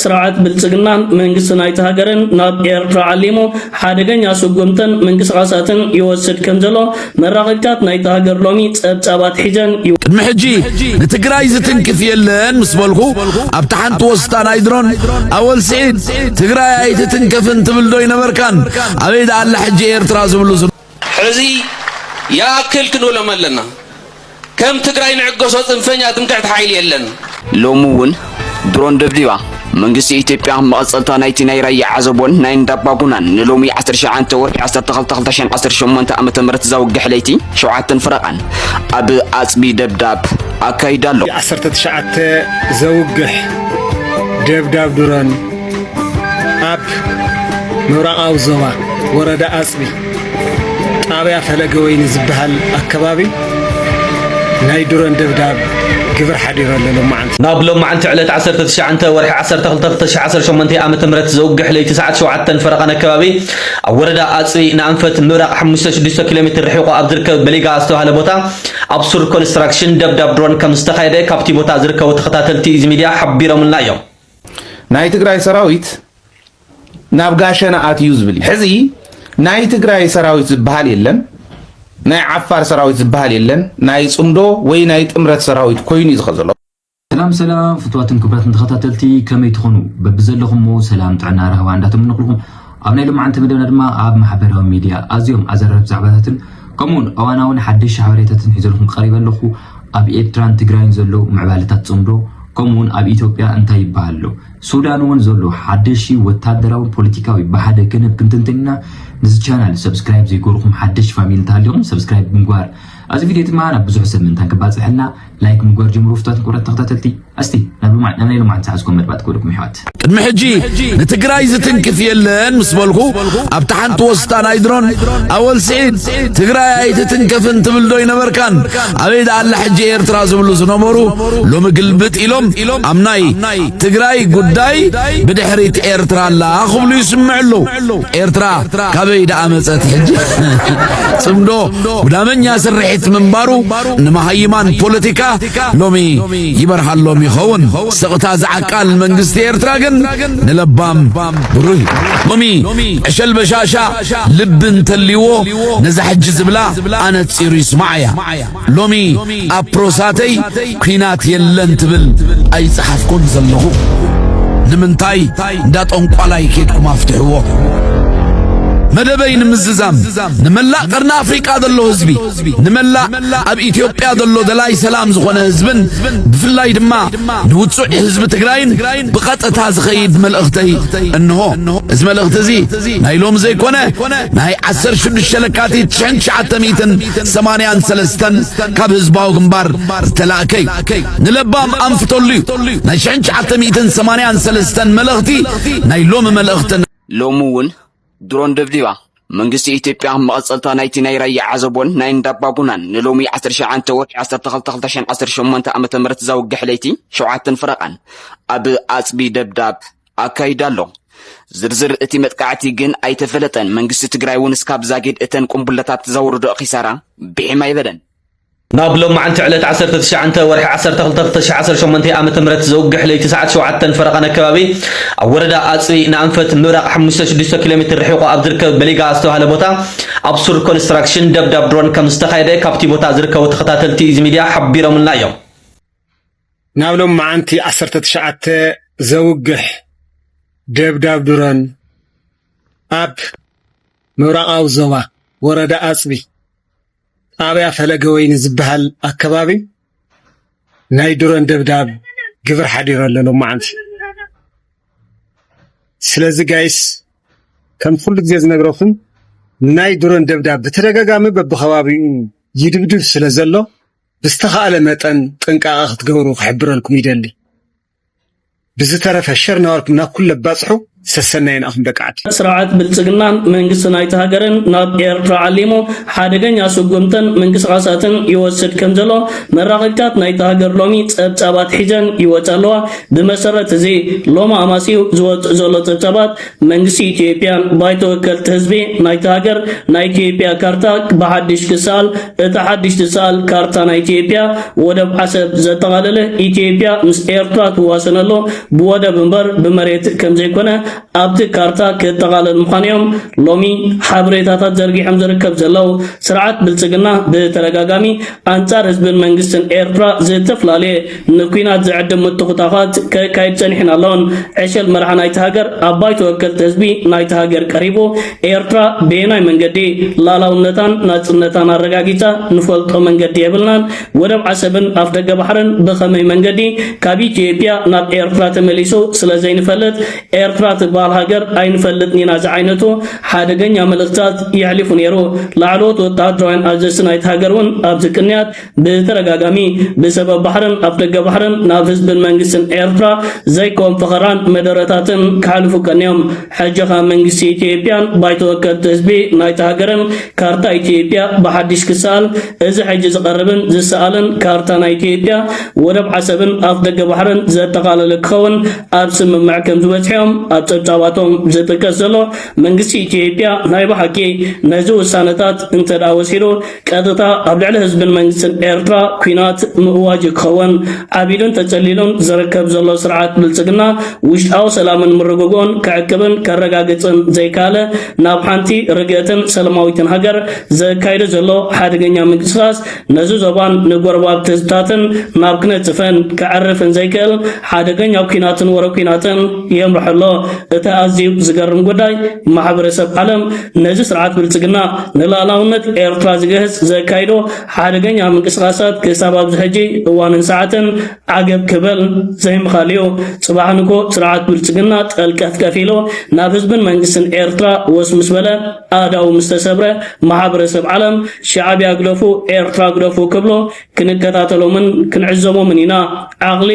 ስርዓት ብልጽግና መንግስቲ ናይቲ ሃገርን ናብ ኤርትራ ዓሊሙ ሓደገኛ ስጉምትን ምንቅስቓሳትን ይወስድ ከም ዘሎ መራኸብታት ናይቲ ሃገር ሎሚ ጸብጻባት ሒዘን ይወ ቅድሚ ሕጂ ንትግራይ ዝትንክፍ የለን ምስ በልኩ ኣብታ ሓንቲ ወስታ ናይ ድሮን ኣወል ስዒድ ትግራይ ኣይትትንከፍን ትብል ዶ ይነበርካን ኣበይ ደኣላ ሕጂ ኤርትራ ዝብሉ ሕዚ ይኣክል ክንብሎም ኣለና ከም ትግራይ ንዕገሶ ፅንፈኛ ትምክሕቲ ሓይሊ የለን። ሎሚ ውን ድሮን ደብዲባ መንግስቲ ኢትዮጵያ መቐጸልታ ናይቲ ናይ ራያ ዓዘቦን ናይ እንዳባጉናን ንሎሚ ዓሰርተ ሸውዓተ ወርሒ ዓሰርተ ክልተ ክልተ ሽሕን ዓሰርተ ሸሞንተ ዓመተ ምህረት ዘውግሕ ለይቲ ሸውዓተን ፈረቓን ኣብ ኣጽቢ ደብዳብ ኣካይዳ ኣሎ። ዓሰርተ ትሽዓተ ዘውግሕ ደብዳብ ድሮን ኣብ ምብራቓዊ ዞባ ወረዳ ኣፅቢ ጣብያ ፈለገ ወይኒ ዝበሃል ኣከባቢ ናይ ድሮን ደብዳብ ግብር ሓዲሩ ኣሎ ሎማዓንቲ ናብ ሎማዓንቲ ዕለት ዓሰርተ ትሽዓተ ወርሒ ዓሰርተ ክልተ ክልተ ሽሕ ዓሰርተ ሸሞንተ ዓመተ ምህረት ዘውግሕ ለይቲ ሰዓት ሸውዓተን ፈረቓን ኣከባቢ ኣብ ወረዳ ኣፅቢ ንኣንፈት ምብራቕ ሓሙሽተ ሽዱሽተ ኪሎ ሜትር ርሒቑ ኣብ ዝርከብ በሊጋ ዝተባሃለ ቦታ ኣብ ሱር ኮንስትራክሽን ደብዳብ ድሮን ከም ዝተኻየደ ካብቲ ቦታ ዝርከቡ ተኸታተልቲ ኢዚ ሚድያ ሓቢሮምልና እዮም። ናይ ትግራይ ሰራዊት ናብ ጋሸና ኣትዩ ዝብል ሕዚ ናይ ትግራይ ሰራዊት ዝበሃል የለን ናይ ዓፋር ሰራዊት ዝበሃል የለን ናይ ጽምዶ ወይ ናይ ጥምረት ሰራዊት ኮይኑ እዩ ዝኸ ዘሎ ሰላም ሰላም ፍትዋትን ክብራትን ተኸታተልቲ ከመይ ትኾኑ በብዘለኹሞ ሰላም ጥዕና ራህዋ እንዳተመነኹልኹም ኣብ ናይ ሎማዓንቲ መደብና ድማ ኣብ ማሕበራዊ ሚድያ ኣዝዮም ኣዘራርብ ዛዕባታትን ከምኡ ውን እዋናውን ሓደሽቲ ሓበሬታትን ሒዘልኩም ቀሪበ ኣለኹ። ኣብ ኤርትራን ትግራይን ዘሎ ምዕባለታት ጽምዶ ከምኡ ውን ኣብ ኢትዮጵያ እንታይ ይበሃል ኣሎ ሱዳን ውን ዘሎ ሓደሽቲ ወታደራውን ፖለቲካዊ ብሓደ ክንብ ክንትንትን ኢና። ንዚ ቻናል ሰብስክራይብ ዘይገሩኩም ሓደሽቲ ፋሚሊ እንተሃሊኹም ሰብስክራይብ ብምግባር እዚ ቪድዮ ድማ ናብ ብዙሕ ሰብ ምእንታን ክባጽሕልና ላይክ ምጎር ጀምሩ ፍቷት ንቁረት ተኸታተልቲ ኣስቲ ናብ ልማዕ ናብ ናይ ልማዕን ዝሓዝኩም መድባት ክብልኩም ይሕዋት ቅድሚ ሕጂ ንትግራይ ዝትንክፍ የለን ምስ በልኩ ኣብታ ሓንቲ ወስታ ናይ ድሮን ኣወል ስዒድ ትግራይ ኣይትትንከፍን ትብል ዶ ይነበርካን ኣበይ ደኣላ ሕጂ ኤርትራ ዝብሉ ዝነበሩ ሎሚ ግልብጥ ኢሎም ኣብ ናይ ትግራይ ጉዳይ ብድሕሪት ኤርትራ ኣላ ክብሉ ይስምዑ ኣለዉ ኤርትራ ካበይ ደኣ መጸት ሕጂ ጽምዶ ጉዳመኛ ስርሒት ምንባሩ ንመሃይማን ፖለቲካ ሎሚ ይበርሃሎም ይኸውን። ስቕታ ዝዓቃል መንግስቲ ኤርትራ ግን ንለባም ብሩህ እዩ። ሎሚ ዕሸል በሻሻ ልቢ እንተልይዎ ነዛ ሕጂ ዝብላ ኣነጺሩ ይስማዓ እያ። ሎሚ ኣብ ፕሮሳተይ ኲናት የለን ትብል ኣይጸሓፍኩን ዘለኹ። ንምንታይ እንዳ ጠንቋላይ ኬድኩም ኣፍትሕዎ። መደበይ ንምዝዛም ንመላእ ቀርኒ ኣፍሪቃ ዘሎ ህዝቢ ንመላእ ኣብ ኢትዮጵያ ዘሎ ደላይ ሰላም ዝኾነ ህዝብን ብፍላይ ድማ ንውጹዕ ህዝቢ ትግራይን ብቐጥታ ዝኸይድ መልእኽተይ እንሆ። እዚ መልእኽቲ እዚ ናይ ሎም ዘይኮነ ናይ 16 ለካቲት 1983 ካብ ህዝባዊ ግንባር ዝተላእከይ ንለባም ኣንፍተሉ እዩ። ናይ 1983 መልእኽቲ ናይ ሎሚ መልእኽትን ሎሚ እውን ድሮን ደብዲባ መንግስቲ ኢትዮጵያ መቐጸልታ ናይቲ ናይ ራያ ዓዘቦን ናይ እንዳባጉናን ንሎሚ 19 ወርሒ 12 2018 ዓ ም ዘውግሕ ለይቲ ሸውዓተን ፈረቓን ኣብ ኣፅቢ ደብዳብ ኣካይዳ ኣሎ ዝርዝር እቲ መጥቃዕቲ ግን ኣይተፈለጠን። መንግስቲ ትግራይ እውን እስካብ ዛጊድ እተን ቁምቡለታት ዘውርዶ ኪሳራ ብሒም ኣይበለን። ናብ ሎማዕንቲ ዕለት ዓሰርተ ትሽዓተ ወርሒ ዓሰርተ ክልተ ክልተ ሽሕ ዓሰርተ ሸሞንተ ኣመተ ምህረት ዘውግሕ ለይቲ ሰዓት ሸውዓተን ፈረቓን ኣከባቢ ኣብ ወረዳ ኣፅቢ ንኣንፈት ምብራቕ ሓሙሽተ ሽዱሽተ ኪሎ ሜትር ርሒቑ ኣብ ዝርከብ በሊጋ ዝተባህለ ቦታ ኣብ ሱር ኮንስትራክሽን ደብዳብ ድሮን ከም ዝተኻየደ ካብቲ ቦታ ዝርከቡ ተኸታተልቲ ኢዚ ሚድያ ሓቢሮምልና እዮም። ናብ ሎማዕንቲ ዓሰርተ ትሽዓተ ዘውግሕ ደብዳብ ድሮን ኣብ ምብራቓዊ ዞባ ወረዳ ኣፅቢ ጣብያ ፈለገ ወይኒ ዝበሃል ኣከባቢ ናይ ድሮን ደብዳብ ግብር ሓዲሩ ኣሎ ሎማዓንቲ። ስለዚ ጋይስ ከም ኩሉ ግዜ ዝነግረኩም ናይ ድሮን ደብዳብ ብተደጋጋሚ በብከባቢኡ ይድብድብ ስለ ዘሎ ብዝተኻእለ መጠን ጥንቃቐ ክትገብሩ ክሕብረልኩም ይደሊ። ብዝተረፈ ሸር ናበልኩም ናብ ኩለ ባጽሑ ሰሰናዩ ንኣኹም ደቂ ዓዲ። ስርዓት ብልጽግናን መንግስቲ ናይቲ ሃገርን ናብ ኤርትራ ዓሊሙ ሓደገኛ ስጉምትን ምንቅስቓሳትን ይወስድ ከምዘሎ መራኸቢታት ናይቲ ሃገር ሎሚ ጸብጻባት ሒዘን ይወጻ ኣለዋ። ብመሰረት እዚ ሎሚ ኣማስዩ ዝወጽእ ዘሎ ጸብጻባት፣ መንግስቲ ኢትዮጵያን ባይቶ ወከልቲ ህዝቢ ናይታ ሃገር ናይ ኢትዮጵያ ካርታ ብሓድሽ ክሰኣል፣ እታ ሓድሽ ትሰኣል ካርታ ናይ ኢትዮጵያ ወደብ ዓሰብ ዘጠቓለለ ኢትዮጵያ ምስ ኤርትራ ትዋሰነሉ ብወደብ እምበር ብመሬት ከምዘይኮነ ኣብቲ ካርታ ክጠቓለል ምዃኑ እዮም ሎሚ ሓበሬታታት ዘርጊሖም ዝርከብ ዘለው። ስርዓት ብልጽግና ብተደጋጋሚ ኣንጻር ህዝብን መንግስትን ኤርትራ ዝተፈላለየ ንኲናት ዝዕድም ምትኹታዃት ከካይድ ጸኒሕን ኣሎን። ዕሸል መራሒ ናይቲ ሃገር ኣብ ባይቶ ወከልቲ ህዝቢ ናይቲ ሃገር ቀሪቡ ኤርትራ በየናይ መንገዲ ላላውነታን ናጽነታን ኣረጋጊጻ ንፈልጦ መንገዲ የብልናን፣ ወደብ ዓሰብን ኣፍደገ ባሕርን ብኸመይ መንገዲ ካብ ኢትዮጵያ ናብ ኤርትራ ተመሊሱ ስለ ዘይንፈልጥ ኤርትራ ትበሃል ሃገር ኣይንፈልጥን ኢና ዝዓይነቱ ሓደገኛ መልእኽትታት የሕሊፉ ነይሩ። ላዕለዎት ወተሃደራውያን ኣዘዝቲ ናይቲ ሃገር እውን ኣብዚ ቅንያት ብተደጋጋሚ ብሰበብ ባሕርን ኣፍደገ ባሕርን ናብ ህዝብን መንግስትን ኤርትራ ዘይኮን ፈኸራን መደረታትን ክሓልፉ ቀንዮም። ሕጂ ከ መንግስቲ ኢትዮጵያን ባይቶ ወከልቲ ህዝቢ ናይታ ሃገርን ካርታ ኢትዮጵያ ብሓዲሽ ክሰኣል እዚ ሕጂ ዝቐርብን ዝሰኣልን ካርታ ናይ ኢትዮጵያ ወደብ ዓሰብን ኣፍደገ ባሕርን ዘጠቓለለ ክኸውን ኣብ ስምምዕ ከም ዝበጽሑዮም ኣብ ጸብጻባቶም ዝጥቀስ ዘሎ። መንግስቲ ኢትዮጵያ ናይ ብሓቂ ነዚ ውሳነታት እንተድኣ ወሲዱ ቀጥታ ኣብ ልዕሊ ህዝብን መንግስትን ኤርትራ ኩናት ምእዋጅ ክኸውን ዓቢዱን ተጸሊሉን ዝርከብ ዘሎ ስርዓት ብልጽግና ውሽጣዊ ሰላምን ምርግግኦን ከዕቅብን ከረጋግጽን ዘይካለ ናብ ሓንቲ ርግእትን ሰለማዊትን ሃገር ዘካይዶ ዘሎ ሓደገኛ ምንቅስቃስ ነዚ ዞባን ንጎረባብቲ ህዝብታትን ናብ ክነጽፈን ከዕርፍን ዘይክእል ሓደገኛ ኩናትን ወረ ኩናትን የምርሐሎ እቲ ኣዝዩ ዝገርም ጉዳይ ማሕበረሰብ ዓለም ነዚ ስርዓት ብልጽግና ንላእላውነት ኤርትራ ዝገህጽ ዘካይዶ ሓደገኛ ምንቅስቓሳት ክሳብ ኣብዚ ሕጂ እዋንን ሰዓትን ዓገብ ክበል ዘይምኻል እዩ። ጽባሕ ንግሆ ስርዓት ብልጽግና ጠልቀፍቀፍ ኢሉ ናብ ህዝብን መንግስትን ኤርትራ ወስ ምስ በለ፣ ኣእዳዉ ምስ ተሰብረ፣ ማሕበረሰብ ዓለም ሻዕብያ ግደፉ ኤርትራ ግደፉ ክብሎ፣ ክንከታተሎምን ክንዕዘቦምን ኢና። ዓቕሊ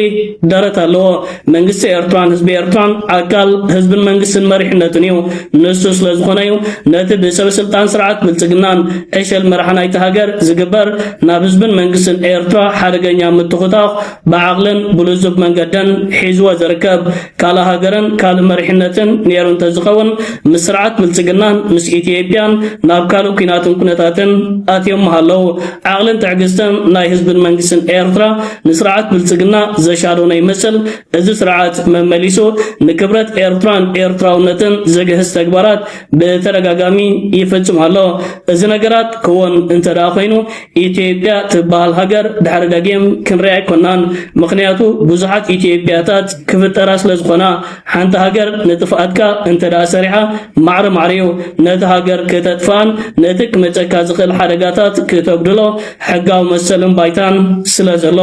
ደረት ኣለዎ። መንግስቲ ኤርትራን ህዝቢ ኤርትራን ኣካል ህዝብን መንግስትን መሪሕነትን እዩ። ንሱ ስለ ዝኾነ እዩ ነቲ ብሰበስልጣን ስርዓት ብልጽግናን ዕሸል መራሒ ናይቲ ሃገር ዝግበር ናብ ህዝብን መንግስትን ኤርትራ ሓደገኛ ምትኹታኽ ብዓቕልን ብልዙብ መንገድን ሒዝዎ ዝርከብ። ካልእ ሃገርን ካልእ መሪሕነትን ኔሩ እንተዝኸውን ምስ ስርዓት ብልጽግናን ምስ ኢትዮጵያን ናብ ካልእ ኩናትን ኩነታትን ኣትዮም ምሃለው። ዓቕልን ትዕግስትን ናይ ህዝብን መንግስትን ኤርትራ ንስርዓት ብልጽግና ዘሻዶነ ይመስል። እዚ ስርዓት መመሊሱ ንክብረት ኤርትራን ኤርትራውነትን ዝግህስ ተግባራት ብተደጋጋሚ ይፍጽም ኣሎ። እዚ ነገራት ክወን እንተደኣ ኮይኑ ኢትዮጵያ ትበሃል ሃገር ድሕሪ ደጊም ክንሪኣ ኣይኮናን ምኽንያቱ ብዙሓት ኢትዮጵያታት ክፍጠራ ስለ ዝኾና ሓንቲ ሃገር ንጥፍኣትካ እንተ ደኣ ሰሪሓ ማዕረ ማዕረ እዩ ነቲ ሃገር ክተጥፍኣን ነቲ ክመጸካ ዝኽእል ሓደጋታት ክተጉድሎ ሕጋዊ መሰልን ባይታን ስለ ዘሎ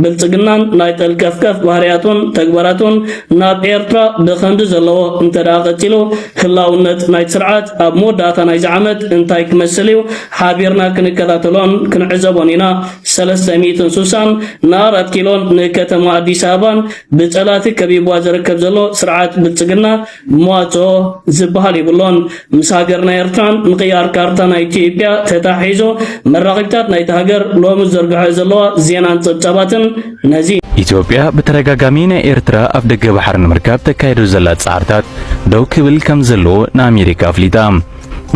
ብልጽግናን ናይ ጠልቀፍቀፍ ባህርያቱን ተግባራቱን ናብ ኤርትራ ብኸምዚ ዘለዎ እንተ ደኣ ቀጺሉ ህላውነት ናይቲ ስርዓት ኣብ መወዳእታ ናይዚ ዓመት እንታይ ክመስል እዩ ሓቢርና ክንከታተሎን ክንዕዘቦን ኢና። ሰለስተ ሚእትን ሱሳን ንኣራት ኪሎን ንከተማ ኣዲስ ኣበባን ብፀላእቲ ከቢብዋ ዝርከብ ዘሎ ስርዓት ብልፅግና መዋፅኦ ዝበሃል የብሎን። ምስ ሃገርና ኤርትራን ምቕያር ካርታ ናይ ኢትዮጵያ ተተሓሒዞ መራኸቢታት ናይታ ሃገር ሎሚ ዝዘርግሐኦ ዘለዋ ዜናን ፀብፃባትን ነዚ ኢትዮጵያ ብተደጋጋሚ ናይ ኤርትራ ኣብ ደገ ባሕሪ ንምርካብ ተካይዶ ዘላ ጻዕርታት ደው ክብል ከም ዘለዎ ንኣሜሪካ ኣፍሊጣ።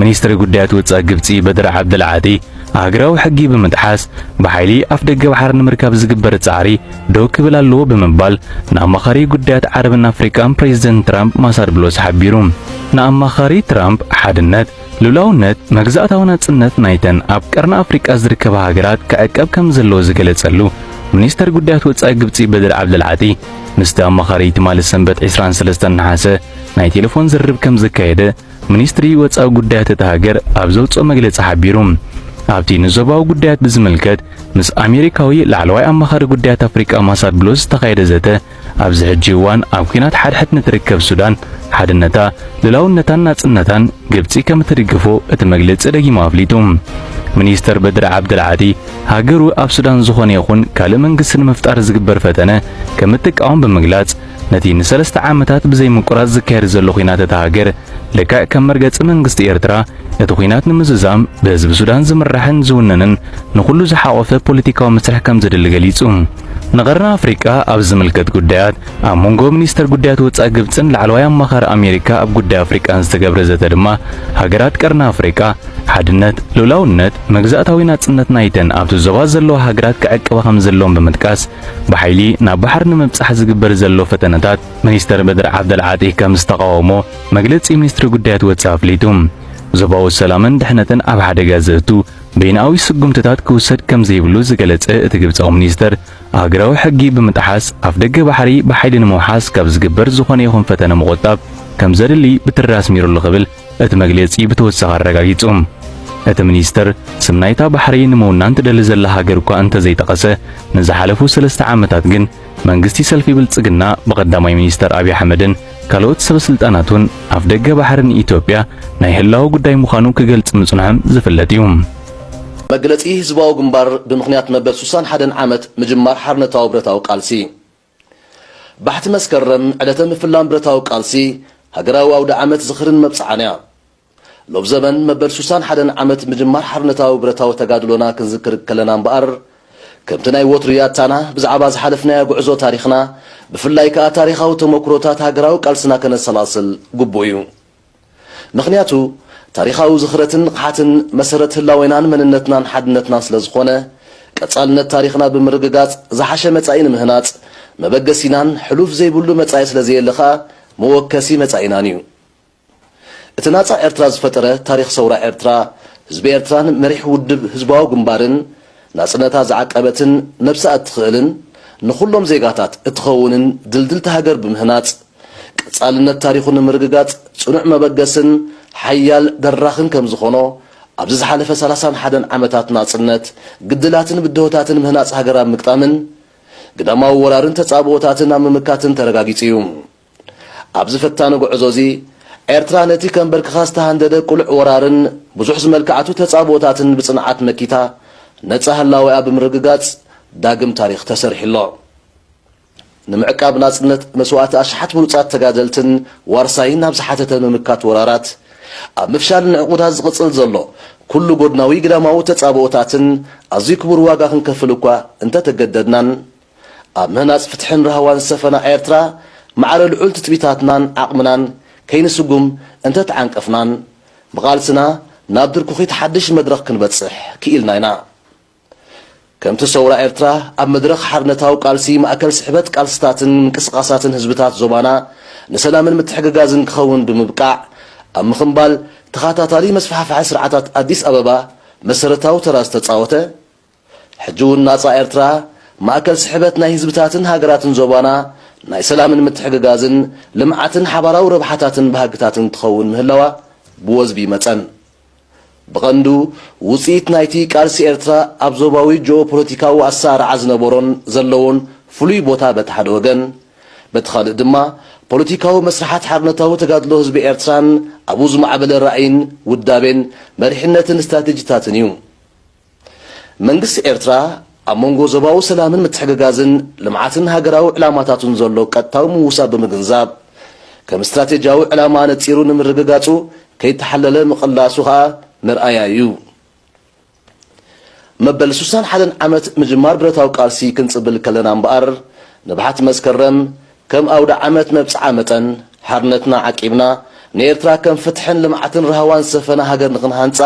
ሚኒስትሪ ጉዳያት ወጻኢ ግብጺ በድር ዓብደል ዓጢ ሃገራዊ ሕጊ ብምጥሓስ ብሓይሊ ኣፍደገ ባሕሪ ንምርካብ ዝግበር ጻዕሪ ደው ክብል ኣለዎ ብምባል ንኣማኻሪ ጉዳያት ዓረብን ኣፍሪቃን ፕሬዚደንት ትራምፕ ማሳድ ብሎስ ሓቢሩ። ንኣማኻሪ ትራምፕ ሓድነት፣ ልኡላውነት፣ መግዛእታዊ ናጽነት ናይተን ኣብ ቀርኒ ኣፍሪቃ ዝርከባ ሃገራት ክዕቀብ ከም ዘለዎ ዝገለጸሉ ሚኒስተር ጉዳያት ወጻኢ ግብጺ በድር ዓብደል ዓጢ ምስቲ ኣማኻሪ ትማሊ ሰንበት 23 ነሓሰ ናይ ቴሌፎን ዝርርብ ከም ዘካየደ ሚኒስትሪ ወጻኢ ጉዳያት እታ ሃገር ኣብ ዘውጽኦ መግለጺ ሓቢሩ። ኣብቲ ንዞባዊ ጉዳያት ብዝምልከት ምስ ኣሜሪካዊ ላዕለዋይ ኣማኻሪ ጉዳያት ኣፍሪቃ ማሳድ ብሎስ ዝተኻየደ ዘተ፣ ኣብዚ ሕጂ እዋን ኣብ ኲናት ሓድሕድ ንትርከብ ሱዳን ሓድነታ፣ ልላውነታን ናጽነታን ግብጺ ከም እትድግፎ እቲ መግለጺ ደጊሙ ኣፍሊጡ። ሚኒስተር በድሪ ዓብደልዓቲ ሃገሩ ኣብ ሱዳን ዝኾነ ይኹን ካልእ መንግስቲ ንምፍጣር ዝግበር ፈተነ ከም እትቃወም ብምግላጽ፣ ነቲ ንሰለስተ ዓመታት ብዘይ ምቁራጽ ዝካየድ ዘሎ ኹናት እታ ሃገር ልክዕ ከም መርገጺ መንግስቲ ኤርትራ ነቲ ኹናት ንምዝዛም ብህዝቢ ሱዳን ዝምራሕን ዝውነንን ንኹሉ ዝሓቖፈ ፖለቲካዊ መስርሕ ከም ዘድሊ ገሊጹ። ንቀርኒ ኣፍሪቃ ኣብ ዝምልከት ጉዳያት ኣብ መንጎ ሚኒስተር ጉዳያት ወጻኢ ግብጽን ላዕለዋይ ኣማኻሪ ኣሜሪካ ኣብ ጉዳይ ኣፍሪቃን ዝተገብረ ዘተ ድማ ሃገራት ቀርኒ ኣፍሪቃ ሓድነት፣ ልኡላውነት፣ መግዛእታዊ ናጽነት ናይተን ኣብቲ ዞባ ዘለዋ ሃገራት ክዕቅባ ከም ዘለወን ብምጥቃስ ብሓይሊ ናብ ባሕሪ ንምብጻሕ ዝግበር ዘሎ ፈተነታት ሚኒስተር በድር ዓብደልዓጢ ከም ዝተቓወሞ መግለጺ ሚኒስትሪ ጉዳያት ወጻኢ ኣፍሊጡ። ዞባዊ ሰላምን ድሕነትን ኣብ ሓደጋ ዘእቱ በይንኣዊ ስጉምትታት ክውሰድ ከም ዘይብሉ ዝገለጸ እቲ ግብጻዊ ሚኒስተር፣ ኣህግራዊ ሕጊ ብምጥሓስ ኣፍደገ ባሕሪ ብሓይሊ ንምውሓስ ካብ ዝግበር ዝኾነ ይኹን ፈተነ ምቑጣብ ከም ዘድሊ ብትሪ ኣስሚሩሉ ክብል እቲ መግለጺ ብተወሳኺ ኣረጋጊጹ። እቲ ሚኒስተር፣ ስም ናይታ ባሕሪ ንምውናን ትደሊ ዘላ ሃገር እኳ እንተዘይጠቐሰ፣ ንዝሓለፉ ሰለስተ ዓመታት ግን መንግስቲ ሰልፊ ብልጽግና ብቀዳማይ ሚኒስተር ኣብይ ኣሕመድን ካልኦት ሰበስልጣናቱን ኣፍደገ ባሕሪ ንኢትዮጵያ ናይ ህላወ ጉዳይ ምዃኑ ክገልጽ ምጽንሖም ዝፍለጥ እዩ። መግለጺ ህዝባዊ ግንባር ብምኽንያት መበል ሱሳን ሓደን ዓመት ምጅማር ሓርነታዊ ብረታዊ ቃልሲ ባሕቲ መስከረም ዕለተ ምፍላም ብረታዊ ቃልሲ ሃገራዊ ኣውደዓመት ዝኽርን መብጽዓን'ያ። ሎብዘበን መበል ሱሳን ሓደን ዓመት ምጅማር ሓርነታዊ ብረታዊ ተጋድሎና ክንዝክር ከለና እምበኣር፣ ከምቲ ናይ ወትሩ ያታና ብዛዕባ ዝሓለፍናዮ ጉዕዞ ታሪኽና፣ ብፍላይ ከኣ ታሪኻዊ ተሞኩሮታት ሃገራዊ ቃልስና ከነሰላስል ግቡእ'ዩ። ምኽንያቱ ታሪኻዊ ዝኽረትን ንቕሓትን መሰረት ህላዌናን መንነትናን ሓድነትናን ስለዝኾነ፣ ቀጻልነት ታሪኽና ብምርግጋጽ ዝሓሸ መጻኢ ንምህናጽ መበገሲናን ሕሉፍ ዘይብሉ መጻኢ ስለዘየለ ከኣ መወከሲ መጻኢናን እዩ። እቲ ናጻ ኤርትራ ዝፈጠረ ታሪኽ ሰውራ ኤርትራ፣ ህዝቢ ኤርትራን መሪሕ ውድብ ህዝባዊ ግንባርን፣ ናጽነታ ዝዓቀበትን ነብሳ እትኽእልን ንኹሎም ዜጋታት እትኸውንን ድልድልቲ ሃገር ብምህናጽ፣ ቀጻልነት ታሪኹ ንምርግጋጽ ጽኑዕ መበገስን ሓያል ደራኽን ከም ዝኾኖ ኣብዚ ዝሓለፈ ሰላሳን ሓደን ዓመታት ናጽነት ግድላትን ብድሆታትን ምህናጽ ሃገር ኣብ ምግጣምን ግዳማዊ ወራርን ተጻብኦታትን ኣብ ምምካትን ተረጋጊጹ እዩ። ኣብዚ ፈታኒ ጉዕዞ እዚ ኤርትራ ነቲ ከምበርክኻ ዝተሃንደደ ቅሉዕ ወራርን ብዙሕ ዝመልከዓቱ ተጻብኦታትን ብጽንዓት መኪታ ነጻ ህላዌኣ ብምርግጋጽ ዳግም ታሪኽ ተሰሪሑ ኣሎ። ንምዕቃብ ናጽነት መስዋእቲ ኣሽሓት ብሉጻት ተጋደልትን ዋርሳይን ናብ ዝሓተተ ምምካት ወራራት፣ ኣብ ምፍሻል ንዕቁታት ዝቕጽል ዘሎ ኩሉ ጎድናዊ ግዳማዊ ተጻብኦታትን ኣዝዩ ክቡር ዋጋ ክንከፍል እኳ እንተ ተገደድናን፣ ኣብ ምህናጽ ፍትሕን ራህዋን ዝሰፈና ኤርትራ ማዕረ ልዑል ትጽቢታትናን ዓቕምናን ከይንስጉም እንተ ተዓንቀፍናን፣ ብቓልስና ናብ ድርኩኺት ሓድሽ መድረኽ ክንበጽሕ ክኢልና ኢና። ከምቲ ሰውራ ኤርትራ ኣብ መድረኽ ሓርነታዊ ቃልሲ ማእከል ስሕበት ቃልስታትን ምንቅስቓሳትን ህዝብታት ዞባና ንሰላምን ምትሕግጋዝን ክኸውን ብምብቃዕ ኣብ ምኽምባል ተኻታታሊ መስፋሕፋሒ ስርዓታት ኣዲስ ኣበባ መሰረታዊ ተራ ዝተጻወተ ሕጂ ውን ናጻ ኤርትራ ማእከል ስሕበት ናይ ህዝብታትን ሃገራትን ዞባና ናይ ሰላምን ምትሕግጋዝን ልምዓትን ሓባራዊ ረብሓታትን ባህግታትን ትኸውን ምህላዋ ብወዝቢ መጸን ብቐንዱ ውጽኢት ናይቲ ቃልሲ ኤርትራ ኣብ ዞባዊ ጂኦፖለቲካዊ ኣሰራርዓ ዝነበሮን ዘለዎን ፍሉይ ቦታ በቲ ሓደ ወገን፣ በቲ ካልእ ድማ ፖለቲካዊ መስርሓት ሓርነታዊ ተጋድሎ ህዝቢ ኤርትራን ኣብኡ ዝማዕበለ ራእይን ውዳቤን መሪሕነትን ስትራቴጂታትን እዩ። መንግስቲ ኤርትራ ኣብ መንጎ ዞባዊ ሰላምን ምትሕግጋዝን ልምዓትን ሃገራዊ ዕላማታቱን ዘሎ ቀጥታዊ ምውሳብ ብምግንዛብ፣ ከም ስትራቴጂያዊ ዕላማ ኣነጺሩ ንምርግጋጹ ከይተሓለለ ምቕላሱ ከኣ መርኣያ ኢዩ። መበል ሱሳን ሓደን ዓመት ምጅማር ብረታዊ ቃልሲ ክንጽብል ከለና እምበኣር፣ ንብሓት መስከረም፣ ከም ኣውደዓመት መብጽዓ መጠን፣ ሓርነትና ዓቂብና፣ ንኤርትራ ከም ፍትሕን ልምዓትን ራህዋን ዝሰፈና ሃገር ንኽንሃንጻ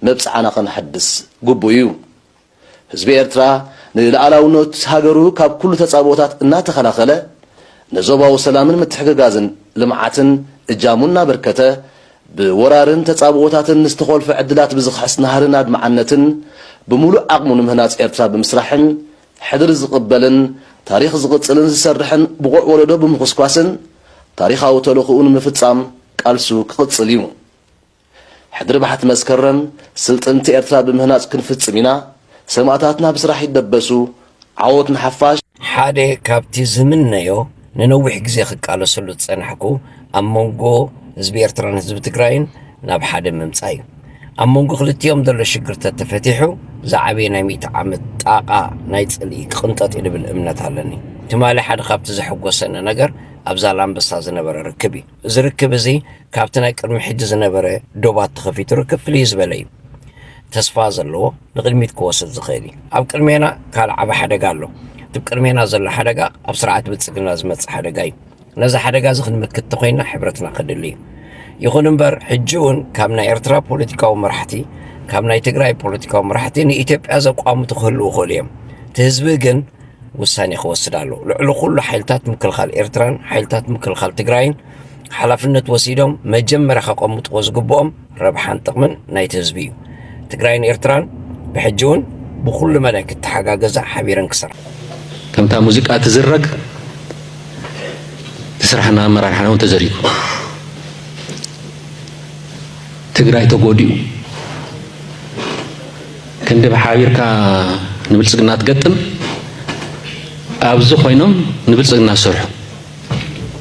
መብጽዓና ከነሐድስ ግቡእ ኢዩ። ህዝቢ ኤርትራ ንልኣላውነት ሃገሩ ካብ ኩሉ ተጻብኦታት እናተኸላኸለ፣ ንዞባዊ ሰላምን ምትሕግጋዝን ልምዓትን እጃሙ እናበርከተ፣ ብወራርን ተጻብኦታትን ንዝተኾልፈ ዕድላት ብዝኽሕስ ናህርን ኣድማዕነትን፣ ብምሉእ ዓቕሙ ንምህናጽ ኤርትራ ብምስራሕን ሕድሪ ዝቕበልን ታሪኽ ዝቕጽልን ዝሰርሕን ብቑዕ ወለዶ ብምኹስኳስን ታሪኻዊ ተልእኾኡ ንምፍጻም ቃልሱ ክቕጽል እዩ። ሕድሪ ባሕቲ መስከረም ስልጥንቲ ኤርትራ ብምህናጽ ክንፍጽም ኢና፣ ሰማእታትና ብስራሕ ይደበሱ፣ ዓወት ንሓፋሽ! ሓደ ካብቲ ዝምነዮ ንነዊሕ ግዜ ክቃለሰሉ ዝጸናሕኩ ኣብ መንጎ ህዝቢ ኤርትራን ህዝቢ ትግራይን ናብ ሓደ ምምጻእ እዩ። ኣብ መንጎ ክልቲኦም ዘሎ ሽግር ተተፈቲሑ ዝዓበየ ናይ ሚእቲ ዓመት ጣቓ ናይ ጽልኢ ክቕንጠጥ እዩ ልብል እምነት ኣለኒ። ትማሊ ሓደ ካብቲ ዘሐጎሰኒ ነገር ኣብ ዛላምበሳ ዝነበረ ርክብ እዩ። እዚ ርክብ እዚ ካብቲ ናይ ቅድሚ ሕጂ ዝነበረ ዶባት ተኸፊቱ ርክብ ፍልይ ዝበለ እዩ። ተስፋ ዘለዎ ንቕድሚት ክወስድ ዝኽእል እዩ። ኣብ ቅድሜና ካልእ ዓቢ ሓደጋ ኣሎ። እቲ ብ ቅድሜና ዘሎ ሓደጋ ኣብ ስርዓት ብልጽግና ዝመጽእ ሓደጋ እዩ። ነዚ ሓደጋ እዚ ክንምክት ተኾይንና ሕብረትና ከድሊ እዩ። ይኹን እምበር ሕጂ እውን ካብ ናይ ኤርትራ ፖለቲካዊ መራሕቲ ካብ ናይ ትግራይ ፖለቲካዊ መራሕቲ ንኢትዮጵያ ዘቋምቱ ክህልዉ ይኽእሉ እዮም። እቲ ህዝቢ ግን ውሳኔ ክወስድ ኣለዎ። ልዕሊ ኩሉ ሓይልታት ምክልኻል ኤርትራን ሓይልታት ምክልኻል ትግራይን ሓላፍነት ወሲዶም መጀመርያ ከቐምጥዎ ዝግብኦም ረብሓን ጥቕምን ናይቲ ህዝቢ እዩ። ትግራይን ኤርትራን ብሕጂ እውን ብኹሉ መዳይ ክተሓጋገዛ ሓቢረን ክሰርሓ። ከምታ ሙዚቃ ትዝረግ ትስራሕና ኣመራርሓና እውን ተዘሪጉ ትግራይ ተጎዲኡ ክንድብ ሓቢርካ ንብልጽግና ትገጥም ኣብዚ ኮይኖም ንብልጽግና ዝሰርሑ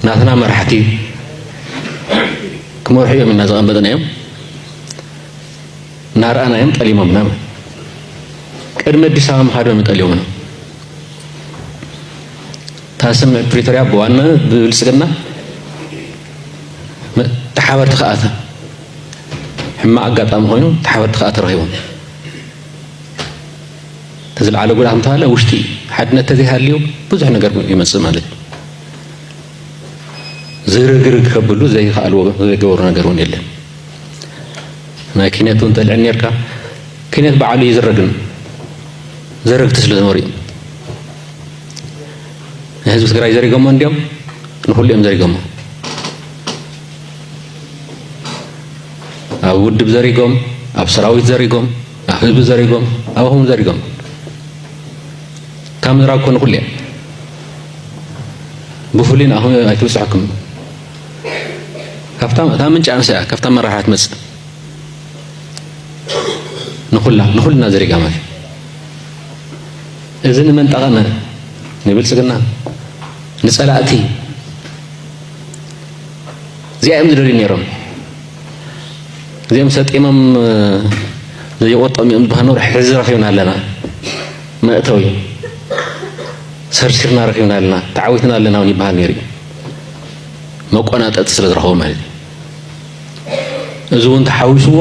ናትና መራሕቲ ክመርሑ እዮም ኢና ዘቐመጥናዮም እናረኣናዮም ጠሊሞምና ቅድሚ ኣዲስ ኣበባ ምኻዶም ጠሊሞምና እታ ስምምዕ ፕሪቶርያ ብዋናነት ብብልጽግና ተሓበርቲ ክኣተ ሕማቕ ኣጋጣሚ ኮይኑ ተሓበርቲ ከኣ ተረኺቦም ተዝለዓለ ጉዳ ከምተባለ ውሽጢ ሓድነት ተዘይሃልዩ ብዙሕ ነገር ይመፅእ ማለት እዩ ዝርግርግ ከብሉ ዘይከኣልዎ ዘይገበሩ ነገር እውን የለን ናይ ኪነት እውን ጠልዕን ነርካ ኪነት በዓሉ እዩ ዝረግን ዘረግቲ ስለ ዝነበሩ እዩ ንህዝቢ ትግራይ ዘሪጎሞ እንዲዮም ንኩሉ እዮም ዘሪጎሞ ኣብ ውድብ ዘሪጎም፣ ኣብ ሰራዊት ዘሪጎም፣ ኣብ ህዝቢ ዘሪጎም፣ ኣብኹም ዘሪጎም ካብ ምዝራግ ኮነ ኩሉ እየ ብፍሉይ ንኣኹም ኣይትብፅሐኩም ካብታ እታ ምንጭ ኣንሳ እያ ካብታ መራሕያ ትመፅእ ንኹላ ንኹልና ዘሪጋ ማለት እዚ ንመን ጠቐመ ንብልፅግና ንፀላእቲ እዚኣ እዮም ዝደልዩ ነይሮም እዚኦም ሰጢሞም ዘይቆጦም እዮም ዝበሃል ኖር ሕዚ ረኺብና ኣለና መእተዊ ሰርሲርና ረኺብና ኣለና ተዓዊትና ኣለና እውን ይበሃል ነይሩ እዩ መቆናጠጢ ስለ ዝረኸቡ ማለት እዩ እዚ እውን ተሓዊስዎ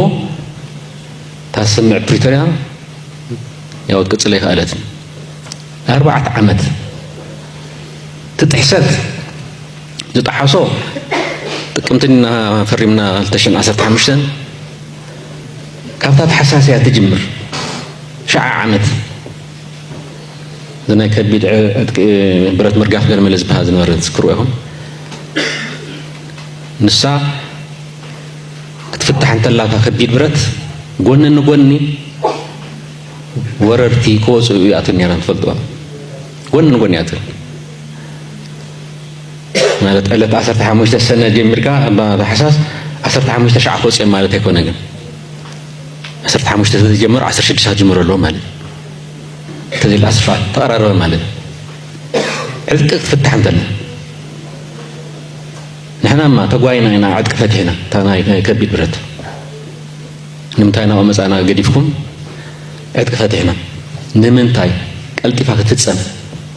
እታ ስምዕ ፕሪቶርያ ያው ክትቅፅል ኣይከኣለትን ኣርባዕተ ዓመት ትጥሕሰት ዝጠሓሶ ጥቅምቲ እና ፈሪምና ክልተ ሽሕን ዓሰርተ ሓሙሽተን ካብታ ተሓሳስ እያ ትጅምር ሸዓ ዓመት ዝናይ ከቢድ ብረት ምርጋፍ ገርመለ ዝበሃል ዝነበረ ትዝክርዎ ይኹን ንሳ ክትፍታሕ እንተላታ ከቢድ ብረት ጎኒ ንጎኒ ወረርቲ ክወፅኡ ይኣትን ነይረን ትፈልጥዋ ጎኒ ንጎኒ ይኣትን ማለት ዕለት ዓሰርተ ሓሙሽተ ሰነ ጀሚርካ እባ ታሕሳስ ዓሰርተ ሓሙሽተ ሸዓ ክወፅኦም ማለት ኣይኮነ ግን ዓሰርተ ሓሙሽተ ስለዝጀመሩ ዓሰርተ ሽዱሽተ ክጅምሩ ኣለዎ ማለት እዩ ተዘይለ ኣስፋ ተቐራረበ ማለት እዩ ዕጥቂ ክትፍታሕ እንተለ ንሕናማ ተጓይና ኢና ዕጥቂ ፈቲሕና እታ ናይ ከቢድ ብረት ንምንታይ ናብኡ መፃና ገዲፍኩም ዕጥቂ ፈቲሕና ንምንታይ ቀልጢፋ ክትፍፀም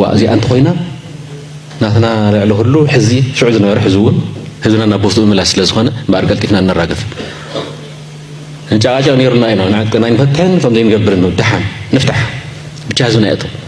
ዋእ እዚኣ እንተኾይና ናትና ልዕሊ ኩሉ ሕዚ ሽዑ ዝነበረ ሕዚ እውን ህዝብና ናብ ቦስትኡ ምምላስ ስለ ዝኾነ እምበኣር ቀልጢፍና እነራግፍ እንጨቓጨቕ ነይሩና ኢና ንዕጥቅና ኣይንፈትሕን ከምዘይንገብርን ደሓን ንፍታሕ ብቻ ህዝብና የእቶ